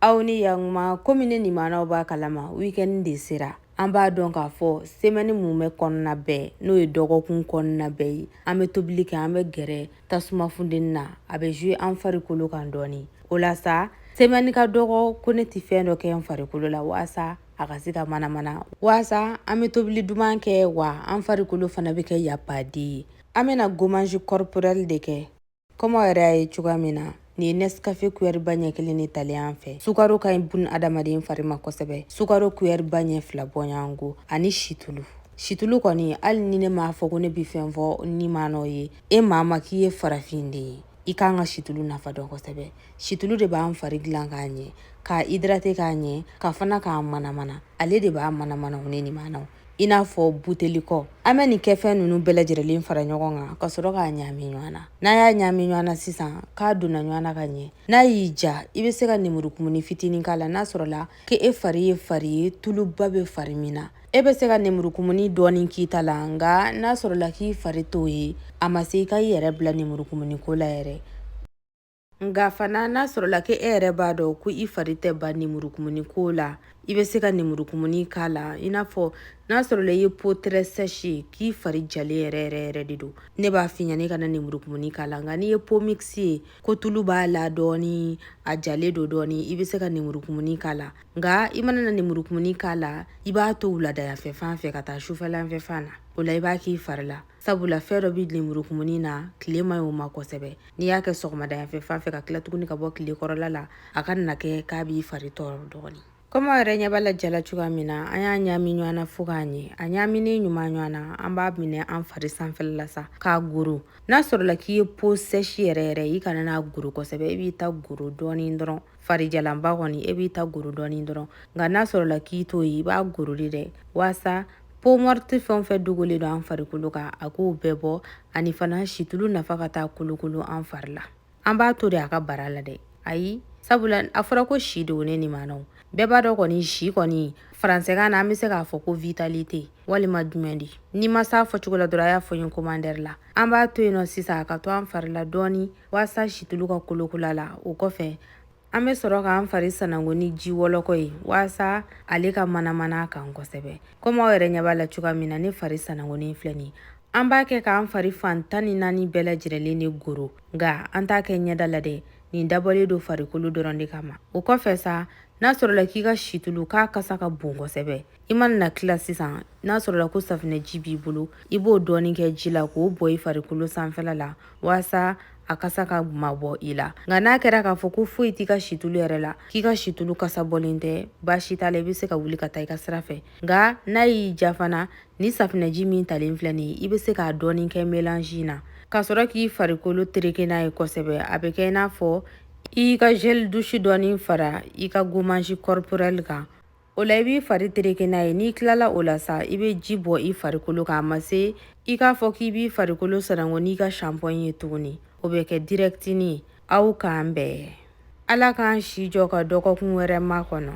aw ni yakuma komi ne nimanaw b'a kalama weekend de sera an b'a dɔn k'a fɔ semɛni mumɛ kɔnɔna bɛɛ n'o ye dɔgɔkun kɔnɔna bɛɛ ye an bɛ tobili kɛ an bɛ gɛrɛ tasuma funteni na a bɛ zue an farikolo kan dɔɔni o la sa semɛni ka dɔgɔ ko ne tɛ fɛn dɔ kɛ n farikolo la waasa a ka se ka manamana waasa an bɛ tobili duman kɛ wa an farikolo fana bɛ kɛ yapaden ye an bɛna gommage corporel de kɛ Komi aw yɛrɛ y'a ye cogoya min na nin ye Nescafe cuillère ba ɲɛ kelen de talen an fɛ. Sukaro ka ɲi bunadamaden fari ma kosɛbɛ. Sukaro cuillère ba ɲɛ fila bɔɲɔgɔnko ani situlu. Situlu kɔni hali ni ne m'a fɔ ko ne bi fɛn fɔ nimanaw ye, e maa ma k'i ye farafinden ye, i kan ka situlu nafa dɔn kosɛbɛ. Situlu de b'an fari dilan k'a ɲɛ, k'a hydrater k'a ɲɛ, ka fana k'a manamana. Ale de b'a manamana o ne nimanaw. i n'a fɔ buteli kɔ an bɛ nin kɛfɛn ninnu bɛɛ lajɛlenlen fara ɲɔgɔn kan ka sɔrɔ k'a ɲami ɲɔgɔn na n'a y'a ɲami ɲɔgɔn na sisan k'a donna ɲɔgɔn na ka ɲɛ n'a y'i diya i bɛ se ka nemurukumuni fitinin k'a la n'a sɔrɔla k'e fari ye fari ye tuluba bɛ fari min na e bɛ se ka nemurukumuni dɔɔni k'i ta la nka n'a sɔrɔla k'i fari t'o ye a ma se i ka i yɛrɛ bila nemurukumuni ko la yɛrɛ nka fana n'a sɔrɔla k'e yɛrɛ b'a dɔn ko i fari tɛ ban nemurukumuni ko la i bɛ se ka nemurukumuni k'a la i n'a fɔ n'a sɔrɔla i ye peau très sèche k'i fari jalen yɛrɛ yɛrɛ yɛrɛ de don ne b'a f'i ɲɛna i kana nemurukumuni k'a la nka n'i ye peau mixte ye ko tulu b'a la dɔɔni a jalen don dɔɔni i bɛ se ka nemurukumuni k'a la nka i mana na nemurukumuni k'a la i b'a to wuladayafɛ fan fɛ ka taa sufɛlanfɛ fan na o la i b'a k'i fari la sabula fɛn dɔ bɛ lenburukumuni na tile man ɲ'o ma kosɛbɛ n'i y'a kɛ sɔgɔmada yanfɛ fan fɛ ka tila tuguni ka bɔ tile kɔrɔla la a kana kɛ k'a b'i fari tɔɔrɔ dɔɔni kɔmi aw yɛrɛ ɲɛ b'a la ja la cogoya min na an y'a ɲaami ɲɔgɔn na fo k'a ɲɛ a ɲaaminen ɲuman ɲɔgɔn na an b'a minɛ an fari sanfɛla la sa k'a goro n'a sɔrɔla k'i ye peau sèche yɛrɛ yɛrɛ i kana n'a goro kosɛbɛ e b'i ta goro dɔɔni dɔrɔn farijalanba kɔni e b'i ta goro dɔɔni dɔrɔn nka n'a sɔrɔla k'i t'o ye i b'a goro de dɛ waasa peau morte fɛn o fɛn dogolen don an farikolo kan a k'o bɛɛ bɔ ani fana situlu nafa ka taa kolokolo an fari la an b'a to de a ka bara la dɛ ayi sabula a fɔra ko si de o ne nimanaw bɛɛ b'a dɔn kɔni si kɔni faransɛkan na an be se k'a fɔ ko vitalité walima jumɛn de ni n ma s'a fɔcogo la dɔrɔn a y'a fɔ n ye commentaire la an b'a to yen nɔ sisan a ka to an fari la dɔɔni waasa situlu ka kolokolo a la o kɔfɛ An bɛ sɔrɔ k'an fari sananko ni ji wɔlɔkɔ ye walasa ale ka manamana a kan kosɛbɛ komi aw yɛrɛ ɲɛ b'a la cogoya min na ne fari sanankonen filɛ nin an b'a kɛ k'an fari fan tan ni naani bɛɛ lajɛrɛlen de goro nka an t'a kɛ ɲɛda la dɛ nin dabɔlen don farikolo dɔrɔn de kama o kɔfɛ sa n'a sɔrɔla k'i ka situlu k'a kasa ka bon kosɛbɛ i mana na tila sisan n'a sɔrɔla ko safinɛji b'i bolo i b'o dɔɔnin kɛ ji la k'o bɔn i farikolo sanfɛla la walasa a kasa ka mabɔ i la nka n'a kɛra k'a fɔ ko foyi t'i ka situlu yɛrɛ la k'i ka situlu kasa bɔlen tɛ baasi t'a la i bɛ se ka wuli ka taa i ka sira fɛ nka n'a y'i diya fana ni safinɛji min talen filɛ nin ye i bɛ se k'a dɔɔnin kɛ melanji na k'a sɔrɔ k'i farikolo tereke n'a ye kosɛbɛ a bɛ kɛ i n'a fɔ i ka gel douche dɔɔnin fara i ka gommage corporel kan o la i b'i fari tereke n'a ye n'i tilala o la sa i bɛ ji bɔn i farikolo kan a ma se i k'a fɔ k'i b'i farikolo sanango n'i ka shanpɔn ye tuguni o bɛ kɛ dirɛkitini aw k'an bɛn ala k'an si jɔ ka dɔgɔkun wɛrɛ makɔnɔ